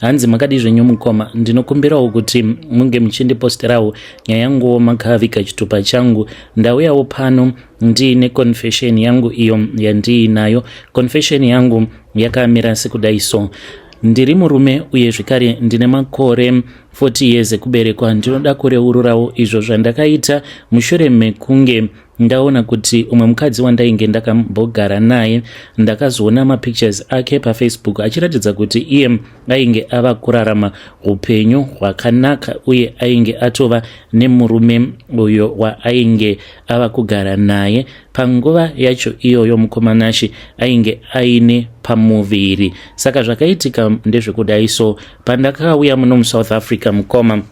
hanzi makadii zvenyu mukoma ndinokumbirawo kuti munge muchindiposterawo nyaya yanguwo makaviga chitupa changu ndauyawo pano ndiine confession yangu iyo yandiinayo confession yangu yakamira sekudai so ndiri murume uye zvekare ndine makore 40 years ekuberekwa ndinoda kureururawo izvo zvandakaita mushure mekunge ndaona kuti umwe mukadzi wandainge ndakambogara naye ndakazoona mapictures ake pafacebook achiratidza kuti iye ainge ava kurarama upenyu hwakanaka uye ainge atova nemurume uyo waainge ava kugara naye panguva yacho iyoyo mukomanashi ainge aine pamuviri saka zvakaitika ndezvekudai so pandakauya muno musouth africa mukoma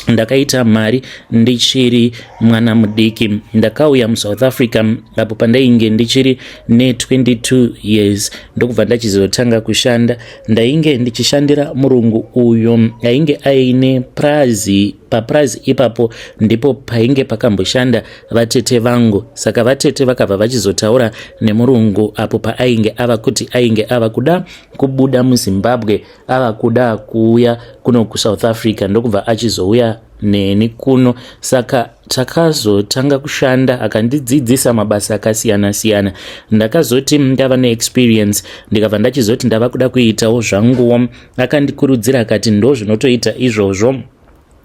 ndakaita mari ndichiri mwana mudiki ndakauya musouth africa apo pandainge ndichiri ne22 years ndokubva ndachizotanga kushanda ndainge ndichishandira murungu uyo ainge aine prazi papurazi ipapo ndipo painge pakamboshanda vatete vangu saka vatete vakabva vachizotaura nemurungu apo paainge ava kuti ainge ava kuda kubuda muzimbabwe ava kuda kuuya kuno kusouth africa ndokubva achizouya neni kuno saka takazotanga kushanda akandidzidzisa mabasa akasiyana siyana ndakazoti ndava neexperience ndikabva ndachizoti ndava kuda kuitawo zvanguwo akandikurudzira akati ndo zvinotoita izvozvo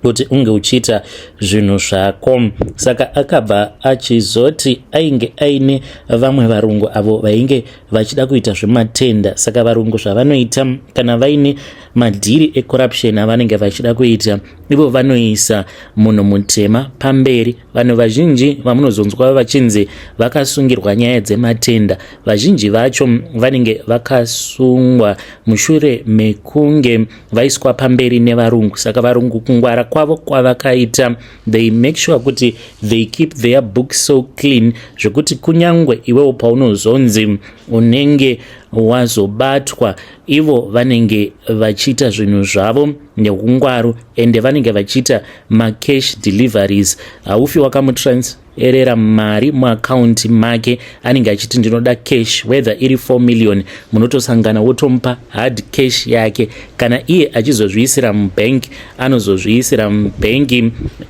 kuti unge uchiita zvinhu zvako saka akabva achizoti ainge aine vamwe varungu avo vainge vachida kuita zvematenda saka varungu zvavanoita kana vaine madhiri ecorruption avanenge vachida kuita ivo vanoisa munhu mutema pamberi vanhu vazhinji vamunozonzwa vachinzi vakasungirwa nyaya dzematenda vazhinji vacho vanenge vakasungwa mushure mekunge vaiswa pamberi nevarungu saka varungu kungwara kwavo kwavakaita they make sure kuti they keep their book so clean zvekuti kunyangwe iwewo paunozonzi unenge wazobatwa ivo vanenge vachiita zvinhu zvavo neungwaru ende vanenge vachiita macash deliveries haufi wakamutrans erera mari muakaunti make anenge achiti ndinoda cash whether iri 4 million munotosangana wotomupa hard cash yake kana iye achizozviisira mubank anozozviisira mubank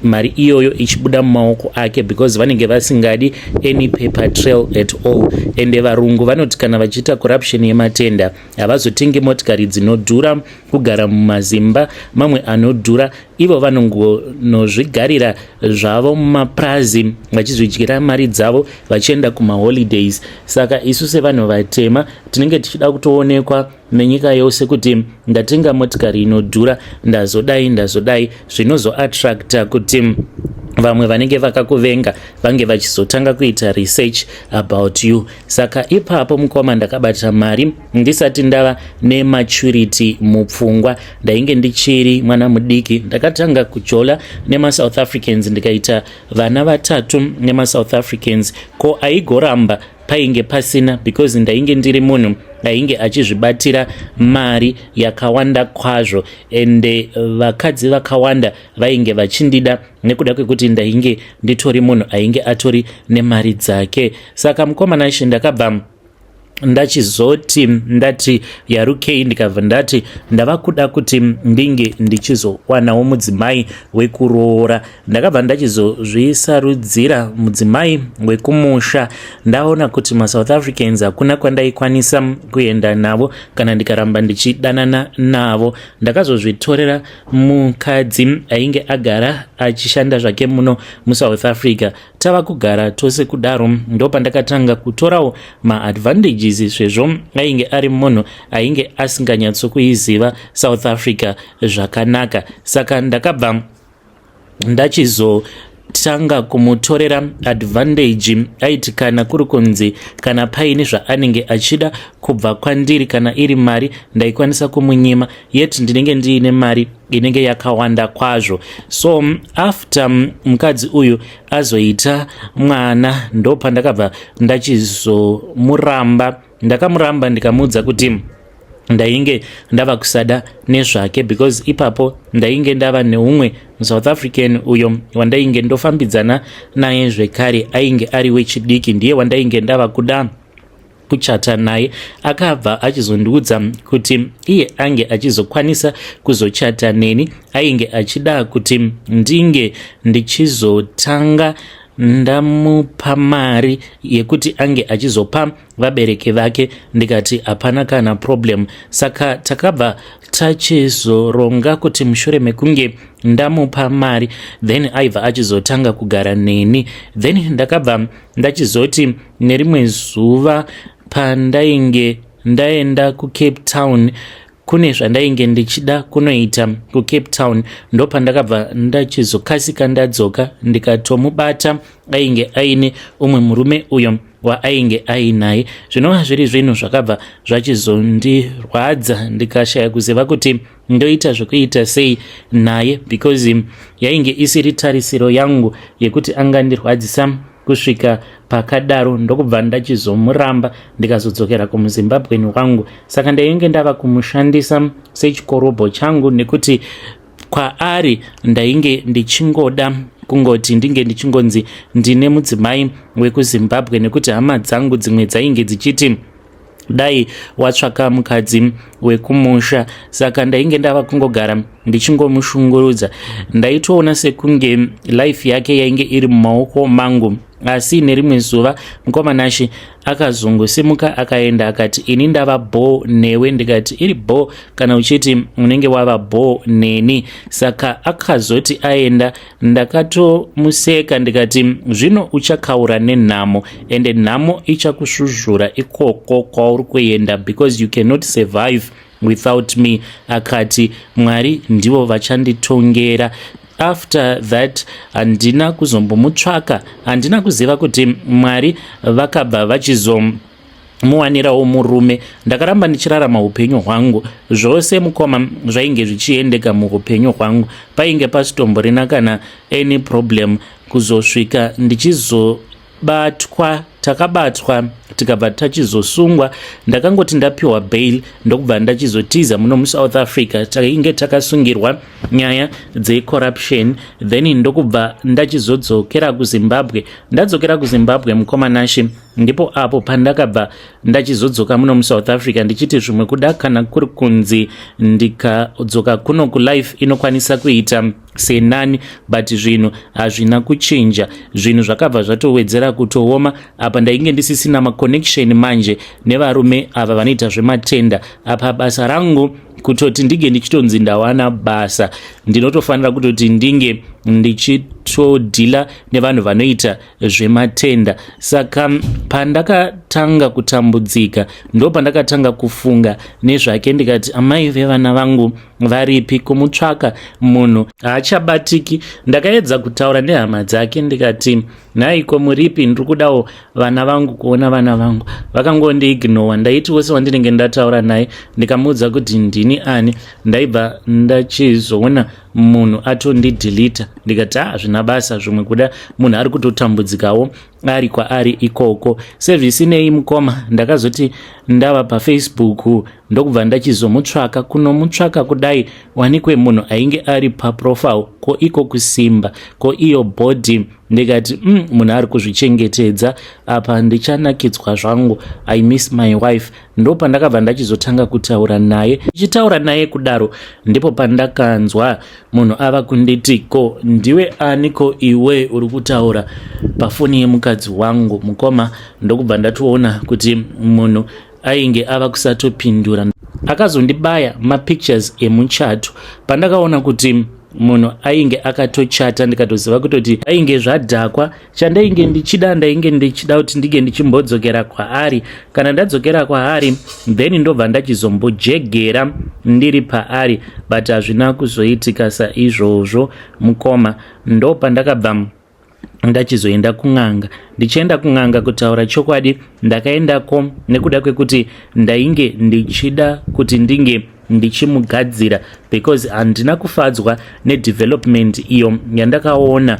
mari iyoyo ichibuda mumaoko ake because vanenge vasingadi any paper trail at all ende varungu vanoti kana vachiita corruption yematenda havazotenge motikari dzinodhura kugara mumazimba mamwe anodhura ivo vanongonozvigarira zvavo mumapurazi vachizvidyira mari dzavo vachienda kumaholidays saka isu sevanhu vatema tinenge tichida kutoonekwa nenyika yose kuti ndatenga motikari inodhura ndazodai ndazodai zvinozoattracta kuti vamwe vanenge vakakuvenga vange vachizotanga kuita research about you saka ipapo mukoma ndakabatira mari ndisati ndava nematurity mupfungwa ndainge ndichiri mwana mudiki ndakatanga kujola nemasouth africans ndikaita vana vatatu nemasouth africans ko aigoramba painge pasina because ndainge ndiri munhu ainge achizvibatira mari yakawanda kwazvo ende vakadzi vakawanda vainge vachindida nekuda kwekuti ndainge nditori munhu ainge atori nemari dzake saka mukomana ishe ndakabva ndachizoti ndati yarukei ndikabva ndati ndava kuda kuti ndinge ndichizowanawo mudzimai wekuroora ndakabva ndachizozvisarudzira mudzimai wekumusha ndaona kuti masouth africans hakuna kwandaikwanisa kuenda navo kana ndikaramba ndichidanana navo ndakazozvitorera mukadzi ainge agara achishanda zvake muno musouth africa tava kugara tose kudaro ndopandakatanga kutorawo maadvantages sezvo ainge ari munhu ainge asinganyatsokuiziva south africa zvakanaka saka ndakabva ndachizo tanga kumutorera advantage aiti kana kuri kunzi kana paine zvaanenge achida kubva kwandiri kana iri mari ndaikwanisa kumunyima yet ndinenge ndiine mari inenge yakawanda kwazvo so after mukadzi uyu azoita mwana ndopandakabva ndachizomuramba Ndakamuramba ndikamuudza kuti ndainge ndava kusada nezvake because ipapo ndainge ndava neumwe musouth african uyo wandainge ndofambidzana naye zvekare ainge ari wechidiki ndiye wandainge ndava kuda kuchata naye akabva achizondiudza kuti iye ange achizokwanisa kuzochata neni ainge achida kuti ndinge ndichizotanga ndamupa mari yekuti ange achizopa vabereki vake ndikati hapana kana problem saka takabva tachizoronga kuti mushure mekunge ndamupa mari then aibva achizotanga kugara neni then ndakabva ndachizoti nerimwe zuva pandainge ndaenda kucape town kune zvandainge ndichida kunoita kucape town ndopandakabva ndachizokasika ndadzoka ndikatomubata ainge aine umwe murume uyo waainge ainaye zvinova zviri zvinhu zvakabva zvachizondirwadza ndikashaya kuziva kuti ndoita zvekuita sei naye because yainge isiri tarisiro yangu yekuti angandirwadzisa kusvika pakadaro ndokubva ndachizomuramba ndikazodzokera kumuzimbabweni wangu saka ndainge ndava kumushandisa sechikorobho changu nekuti kwaari ndainge ndichingoda kungoti ndinge ndichingonzi ndine mudzimai wekuzimbabwe nekuti hama dzangu dzimwe dzainge dzichiti dai watsvaka mukadzi wekumusha saka ndainge ndava kungogara ndichingomushungurudza ndaitoona sekunge life yake yainge iri mumaoko mangu asi nerimwe zuva mukoma nashe akazongosimuka akaenda akati ini ndava bho newe ndikati iri bho kana uchiti unenge wava bho neni saka akazoti aenda Ndakatomuseka ndikati zvino uchakaura nenhamo ende nhamo ichakusvuzvura ikoko kwauri kuenda because you cannot survive without me akati mwari ndivo vachanditongera after that handina kuzombomutsvaka handina kuziva kuti mwari vakabva vachizom muwanirawo murume ndakaramba ndichirarama upenyu hwangu zvose mukoma zvainge zvichiendeka muupenyu hwangu painge pasitomborina kana any problem kuzosvika ndichizobatwa takabatwa tikabva tachizosungwa ndakangoti ndapiwa bail ndokubva ndachizotiza muno musouth africa tainge takasungirwa nyaya dzecorruption then ndokubva ndachizodzokera kuzimbabwe ndadzokera kuzimbabwe mukoma nashe ndipo apo pandakabva ndachizodzoka muno musouth africa ndichiti zvimwe kuda kana kuri kunzi ndikadzoka kuno kulife inokwanisa kuita senani but zvinhu hazvina kuchinja zvinhu zvakabva zvatowedzera kutooma apa ndainge ndisisina maconnection manje nevarume ava vanoita zvematenda apa basa rangu kutoti ndinge ndichitonzi ndawana basa ndinotofanira kutoti ndinge ndichitodhila nevanhu vanoita zvematenda saka pandakatanga kutambudzika ndo pandakatanga kufunga nezvake ndikati amai vevana vangu varipi kumutsvaka munhu haachabatiki ndakaedza kutaura nehama dzake ndikati nhaiko muripi ndiri kudawo vana vangu kuona vana vangu vakangondiignowa ndaiti wese wandinenge ndataura naye ndikamuudza kuti ndini ani ndaibva ndachizoona munhu atondidhilita ndikati ah zvina basa zvimwe kuda munhu ari kutotambudzikawo ari kwaari ikoko sevhisinei mukoma ndakazoti ndava pafacebook ndokubva ndachizomutsvaka kunomutsvaka kudai wanikwe munhu ainge ari paprofile ko iko kusimba ko iyo body ndikati mm, munhu ari kuzvichengetedza apa ndichanakidzwa zvangu i miss my wife ndopandakabva ndachizotanga kutaura naye ichitaura naye kudaro ndipo pandakanzwa munhu ava kunditi ko ndiwe ani ko iwe uri kutaura pafoni yemukadzi wangu mukoma ndokubva ndatoona kuti munhu ainge ava kusatopindura akazondibaya mapictures emuchato pandakaona kuti munhu ainge akatochata ndikatoziva kutoti ainge zvadhakwa chandainge ndichida ndainge ndichida kuti ndinge ndichimbodzokera kwaari kana ndadzokera kwaari then ndobva ndachizombojegera ndiri paari but hazvina kuzoitika saizvozvo mukoma ndopandakabva ndachizoenda kun'anga ndichienda kun'anga kutaura chokwadi ndakaendako nekuda kwekuti ndainge ndichida kuti ndinge ndichimugadzira because handina kufadzwa nedevelopment iyo yandakaona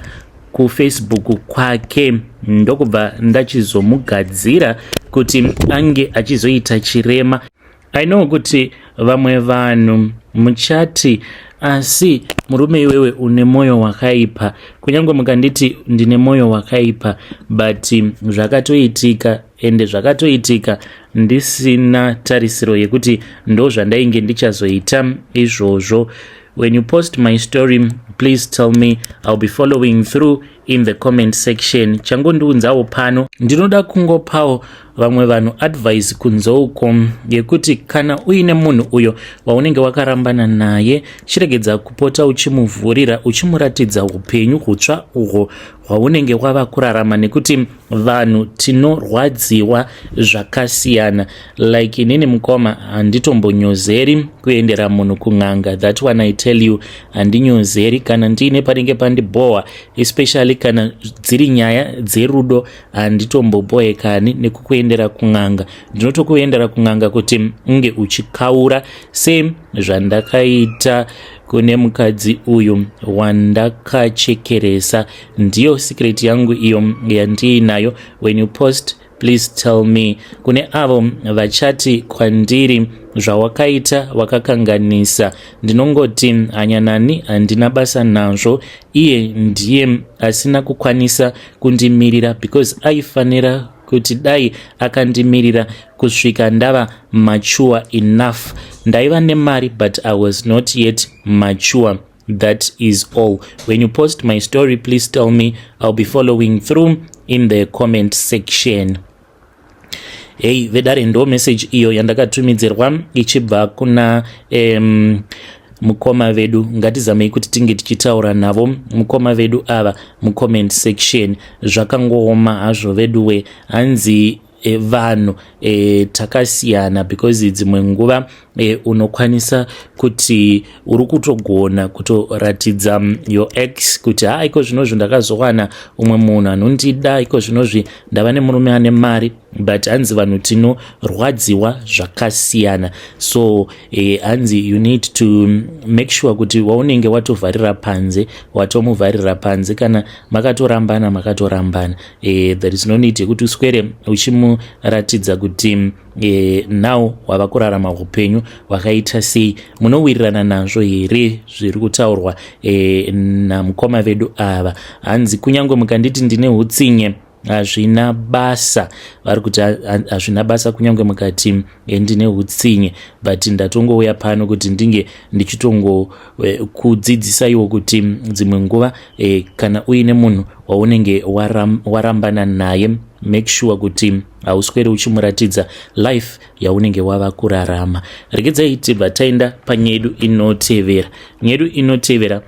kufacebook kwake ndokubva ndachizomugadzira kuti ange achizoita chirema i know kuti vamwe vanhu muchati asi murume iwewe une mwoyo wakaipa kunyange mukanditi ndine mwoyo wakaipa but zvakatoitika ende zvakatoitika ndisina tarisiro yekuti ndo zvandainge ndichazoita izvozvo when you post my story please tell me ill be following through in the comment section changondiunzawo pano ndinoda kungopawo vamwe vanhu advice kunzouko yekuti kana uine munhu uyo waunenge wakarambana naye chiregedza kupota uchimuvhurira uchimuratidza upenyu hutsva uhwo hwaunenge wava kurarama nekuti vanhu tinorwadziwa zvakasiyana like inini mukoma handitombonyozeri kuendera munhu kun'anga that one i tell you handinyozeri kana ndiine panenge pandibhohwa especially kana dziri nyaya dzerudo handitombobohekani nekukuendera kun'anga ndinotokuendera kun'anga kuti unge uchikaura same zvandakaita kune mukadzi uyu wandakachekeresa ndiyo secret yangu iyo yandiinayo when you post please tell me kune avo vachati kwandiri zvawakaita wakakanganisa ndinongoti hanyanani handina basa nazvo iye ndiye asina kukwanisa kundimirira because aifanira kuti dai akandimirira kusvika ndava mature enough ndaiva nemari but i was not yet mature that is all when you post my story please tell me i'll be following through in the comment section hei vedare ndo message iyo yandakatumidzirwa ichibva kuna um, mukoma vedu ngatizamei kuti tinge tichitaura navo mukoma vedu ava mucomment section zvakangooma hazvo veduwe hanzi e, vanhu e, takasiyana because dzimwe nguva e, unokwanisa kuti uri kutogona kutoratidza mm, your ex kuti ha iko zvinozvi ndakazowana umwe munhu anondida iko zvinozvi ndava nemurume ane mari but hanzi vanhu tinorwadziwa zvakasiyana so e, hanzi you need to make sure kuti waunenge watovharira panze watomuvharira panze kana makatorambana makatorambana e, there is no need yekuti uswere uchimuratidza kuti e, now wava kurarama upenyu hwakaita sei munowirirana nazvo here zviri kutaurwa e, namukoma vedu ava hanzi kunyange mukanditi ndine utsinye hazvina basa vari kuti hazvina basa kunyange mukati eh, ndine utsinye but ndatongouya pano kuti ndinge ndichitongokudzidzisaiwo eh, kuti dzimwe nguva eh, kana uine munhu waunenge warambana naye make sure kuti hauswere uchimuratidza life yaunenge wava kurarama regedzai tibva taenda panyedu inotevera nyedu inotevera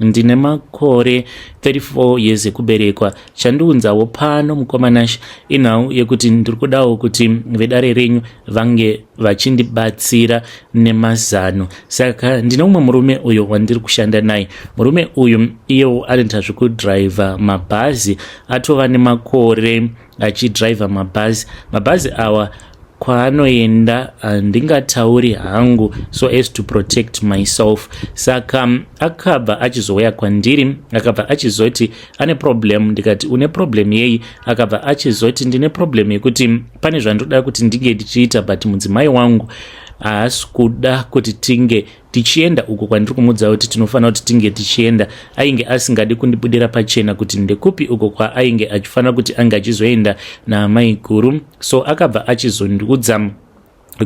ndine makore 34 years ekuberekwa chandiunzawo pano mukomanash inhau yekuti ndiri kudawo kuti vedare renyu vange vachindibatsira nemazano saka ndine umwe murume uyo wandiri kushanda naye murume uyu iyewo anoita zvekudhiraivha mabhazi atova nemakore achidriver mabhazi mabhazi awa kwaanoenda handingatauri ah, hangu so as to protect myself saka mm, akabva achizouya kwandiri akabva achizoti ane problem ndikati une problem yei akabva achizoti ndine problem yekuti mm, pane zvandoda kuti ndinge ndichiita but mudzimai wangu haasi kuda kuti tinge tichienda uko kwandiri kumuudza kuti tinofanira kuti tinge tichienda ainge asingadi kundibudira pachena kuti ndekupi uko kwaainge achifanira kuti ange achizoenda naamai guru so akabva achizondiudza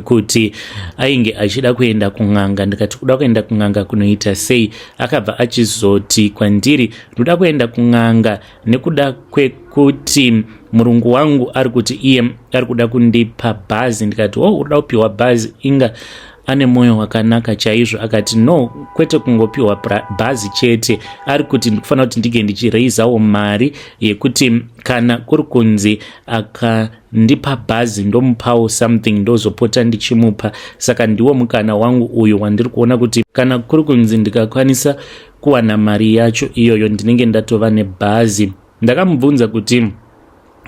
kuti ainge achida kuenda kun'anga ndikati kuda kuenda kun'anga kunoita sei akabva achizoti kwandiri ndoda kuenda kun'anga nekuda kwekuti murungu wangu ari kuti iye ari kuda kundipa bhazi ndikati wo oh, uda kupiwa bhazi inga ane mwoyo wakanaka chaizvo akati no kwete kungopiwa bhazi chete ari kuti ndikufanira kuti ndinge ndichiraisawo mari yekuti kana kuri kunzi akandipa bhazi ndomupawo something ndozopota ndichimupa saka ndiwo mukana wangu uyu wandiri kuona kuti kana kuri kunzi ndikakwanisa kuwana mari yacho iyoyo ndinenge ndatova nebhazi ndakamubvunza kuti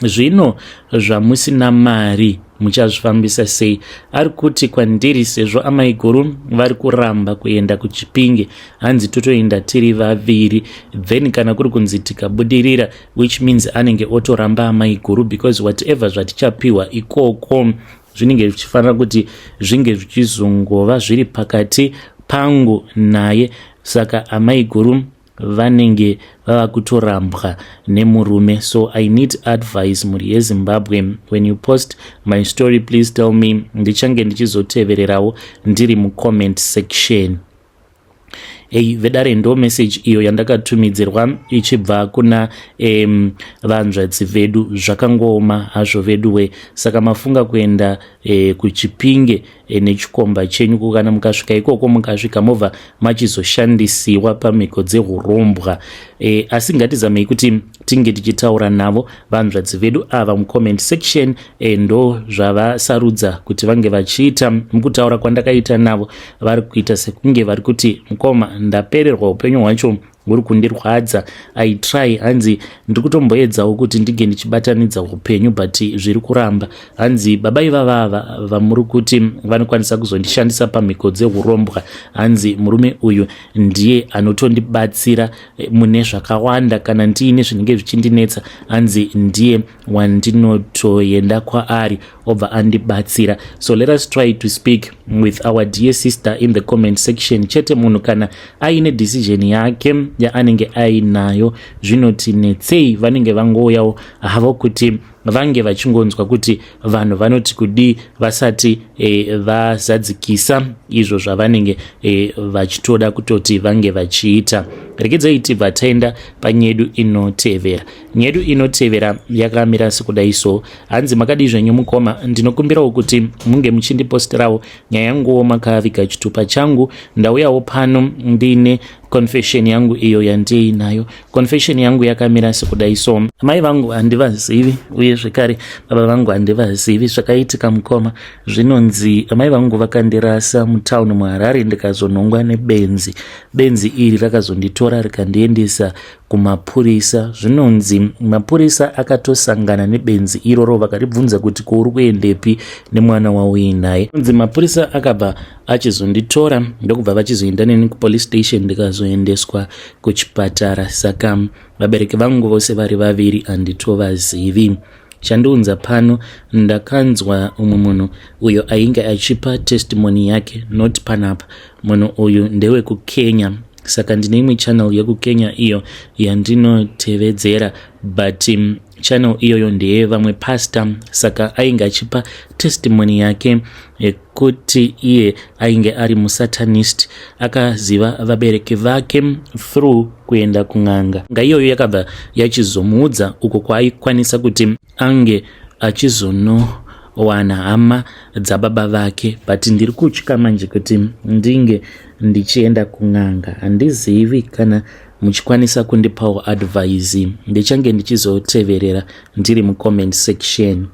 zvino zvamusina mari muchazvifambisa sei ari kuti kwandiri sezvo amaiguru vari kuramba kuenda kuchipinge hanzi totoenda tiri vaviri then kana kuri kunzi tikabudirira which means anenge otoramba amaiguru because whatever zvatichapiwa ikoko zvinenge zvichifanira kuti zvinge zvichizongova zviri pakati pangu naye saka amaiguru vanenge vava kutorambwa nemurume so i need advice mhuri yezimbabwe when you post my story please tell me ndichange ndichizotevererawo ndiri mucomment section hey, vedare ndo message iyo yandakatumidzirwa ichibva kuna um, vanzvadzi vedu zvakangooma hazvo veduwe saka mafunga kuenda eh, kuchipinge e, nechikomba chenyu kukana mukasvika ikoko mukasvika mobva machizoshandisiwa pamhiko dzehurombwa e, asi ngatizamei kuti tinge tichitaura navo vanzvadzi vedu ava mucomment section e, ndo zvavasarudza kuti vange vachiita mukutaura kwandakaita navo vari kuita sekunge vari kuti mukoma ndapererwa upenyu hwacho muri kundirwadza i try hanzi ndiri kutomboedzawo kuti ndinge ndichibatanidza upenyu but zviri kuramba hanzi baba ivavava vamuri kuti vanokwanisa kuzondishandisa pamhiko dzeurombwa hanzi murume uyu ndiye anotondibatsira eh, mune zvakawanda kana ndiine zvinenge zvichindinetsa hanzi ndiye wandinotoenda kwaari obva andibatsira so let us try to speak with our dear sister in the comment section chete munhu kana aine decision yake yaanenge ainayo zvinoti netsei vanenge vangouyawo havo kuti vange vachingonzwa kuti vanhu vanoti kudii vasati e, vazadzikisa izvo zvavanenge e, vachitoda kutoti vange vachiita regedzai tibva taenda panyedu inotevera nyedu inotevera yakamira sekudai so hanzi makadii zvenyu mukoma ndinokumbirawo kuti munge muchindipostirawo nyaya yanguwo makaviga chitupa changu ndauyawo pano ndiine confession yangu iyo yandiinayo confession yangu yakamira sekudai so mai vangu handivazivi uye zvekare baba vangu handivazivi zvakaitika mukoma zvinonzi mai vangu vakandirasa mutown muharare ndikazonhongwa nebenzi benzi iri rakazonditora rikandiendesa kumapurisa zvinonzi mapurisa akatosangana nebenzi iroro vakaribvunza kuti ko uri kuendepi nemwana wauinaye nzi mapurisa akabva achizonditora ndokubva vachizoenda neni kupolice station ndikazoendeswa kuchipatara saka vabereki vangu vose vari vaviri handitovazivi chandiunza pano ndakanzwa umwe munhu uyo ainge achipa testimony yake not panapa munhu uyu ndewekukenya saka ndine imwe channel yekukenya iyo yandinotevedzera but um, channel iyoyo ndeye vamwe pastor saka ainge achipa testimony yake yekuti iye ainge ari musatanist akaziva vabereki vake through kuenda kun'anga nga iyoyo yakabva yachizomuudza uko kwaaikwanisa kuti ange achizonowana hama dzababa vake but ndiri kutya manje kuti ndinge ndichienda kun'anga handizivi kana muchikwanisa kundipawo advise ndichange ndichizoteverera ndiri mucomment section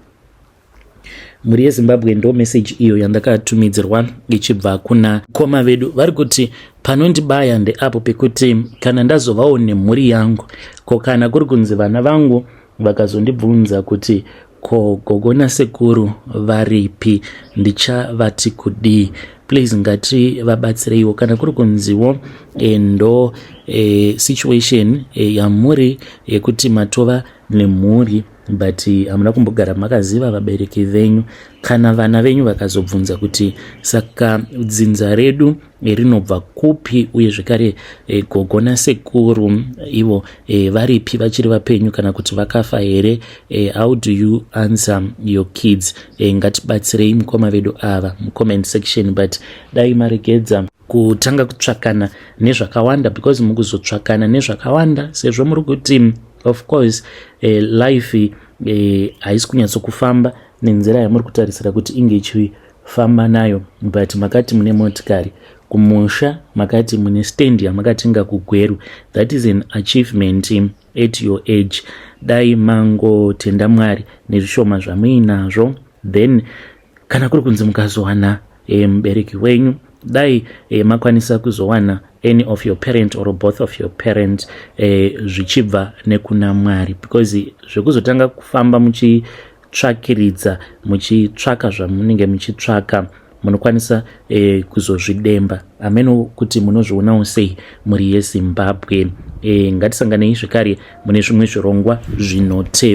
mhuri yezimbabwe ndo message iyo yandakatumidzirwa ichibva kuna koma vedu vari kuti panondibaya ndeapo pekuti kana ndazovawo nemhuri yangu ko kana kuri kunzi vana vangu Vakazondibvunza kuti ko gogo nasekuru varipi ndichavati kudii please ngati vabatsireiwo kana kuri kunziwo eh, ndo e, situation e, yamuri yekuti e, matova nemhuri but hamuna kumbogara makaziva vabereki venyu kana vana venyu vakazobvunza kuti saka dzinza redu rinobva kupi uye zvekare e, gogo nasekuru ivo e, varipi vachiri vapenyu kana kuti vakafa here e, how do you answer your kids e, ngatibatsirei mukoma vedu ava mucomment section but dai maregedza kutanga kutsvakana nezvakawanda because mukuzotsvakana nezvakawanda sezvo muri kuti of course e, life haisi e, kunyatsokufamba nenzira yamuri kutarisira kuti inge ichii famba nayo but makati mune motikari kumusha makati mune stand yamakatenga kugweru that is an achievement at your age dai mangotenda mwari nezvishoma zvamuinazvo then kana kuri kunzi mukazowana e, mubereki wenyu dai e, makwanisa kuzowana any of your parent or both of your parent e, zvichibva nekuna mwari because zvekuzotanga kufamba muchi tsvakiridza muchitsvaka zvamunenge muchitsvaka munokwanisa e, kuzozvidemba hameno kuti munozvionawo sei mhuri yezimbabwe e, ngatisanganei zvekare mune zvimwe zvirongwa zvinotevera